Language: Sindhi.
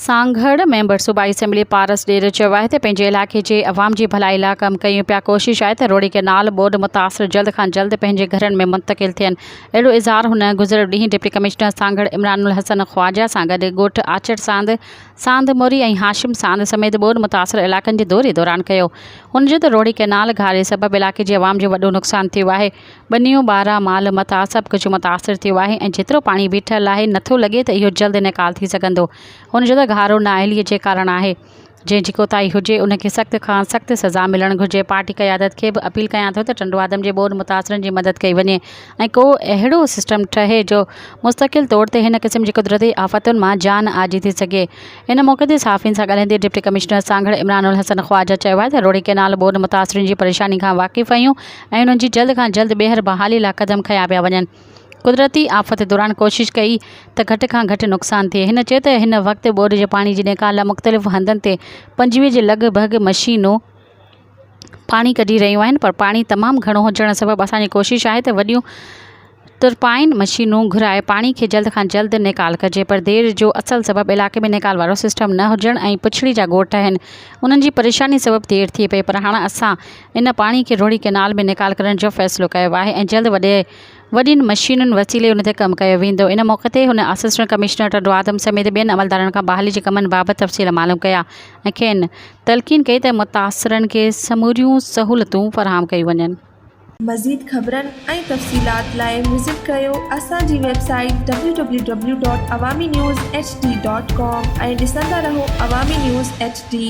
سانگهڙ ميمبر صوبائي اسيمبلي پارس ڏير چيو آهي ته پنهنجي علائقي جي عوام جي ڀلائي لا ڪم ڪيون پيا ڪوشش آهي ته روھڙي ڪئنال ٻوڏ متاثر جلد کان جلد پنهنجي گهرن ۾ منتقل ٿين اهڙو اظهار هن گذريل ڏينهن ڊپٽي ڪمشنر سانگهڙ عمران الحسن خواجه سان گڏ ڳوٺ آچڙ ساند ساند موري ۽ هاشم ساند سميت ٻوڏ متاثر علائقن جي دوري دوران ڪيو هن چيو ته روهڙي ڪئنال گهاري سبب علائقي جي عوام جو وڏو نقصان ٿيو آهي ٻنيون ٻارا مال متاع سڀ ڪجهه متاثر ٿيو آهي ۽ جيترو پاڻي بيٺل آهي نٿو لڳي ته اهو جلد نيڪال ٿي سگهندو هن چيو ته گهارو نااهلي جي ڪارڻ آهي جنهن جي ڪوتاهي هجي ان کي سخت کان سخت سزا ملڻ گهرجي پارٽي قيادت کي به اپيل ڪيان ٿو ته ٽنڊوآدم جي ٻوڏ متاثرن جي مدد ڪئي وڃي ۽ ڪو اهڙو سسٽم ٺهي جو مستقل طور تي هن قسم جي قدرتي آفتن مان جان آجي ٿي سگهي. ان موقعي تي صحافين سان ڳالهائيندي ڊپٽي ڪمشنر سانگهڙ عمران الحسن خواجه چيو آهي ته روهڙي ڪئنال ٻوڏ متاثرين جي پريشاني کان واقف آهيون ۽ انهن جي جلد کان جلد ٻيهر بحالي لاء قدم کنيا پيا وڃن. قدرتي آفت دوران ڪوشش ڪئي ته گهٽ کان گهٽ نقصان ٿئي. هن چيو ته هن وقت ٻوڏ جي پاڻي جي نيڪال لاء مختلف هنڌن تي پنجويهه جي لڳ ڀڳ مشينون پاڻي ڪڍي رهيون آهن پر پاڻي تمام گهڻو هجڻ سبب اسانجي ڪوشش آهي ته وڏيون ترپائن مشينون گهرائي پاڻي کي جلد کان جلد نيڪال ڪجي پر دير جو اصل سبب علائقي ۾ نيڪال وارو سسٽم نه هجڻ ۽ پڇڙي جا ڳوٺ آهن انهن جي پريشاني سبب دير ٿئي پئي پر هاڻ اسان ان پاڻي کي روهڙي ڪئنال ۾ نيڪال ڪرڻ جو فيصلو ڪيو آهي ۽ جلد وڏي وڏين مشينن وسيلي ان تي ڪم ڪيو ويندو. ان موقعي تي هن اسسٽنٽ ڪمشنر ٽنڊو آدم سميت ٻين عملدارن کان بحالي جي ڪمن بابت تفصيل معلوم ڪيا ۽ کين تلقين ڪئي ته متاثرن کي سموريون سهولتون فراهم ڪيون وڃن. مزيد خبرن ۽ تفصيلات لاء وزٽ ڪريو اسان جي website www.awaminews. HD. Com ۽ ڏسندا رهو عوامي نيوز ايڇ ڊي.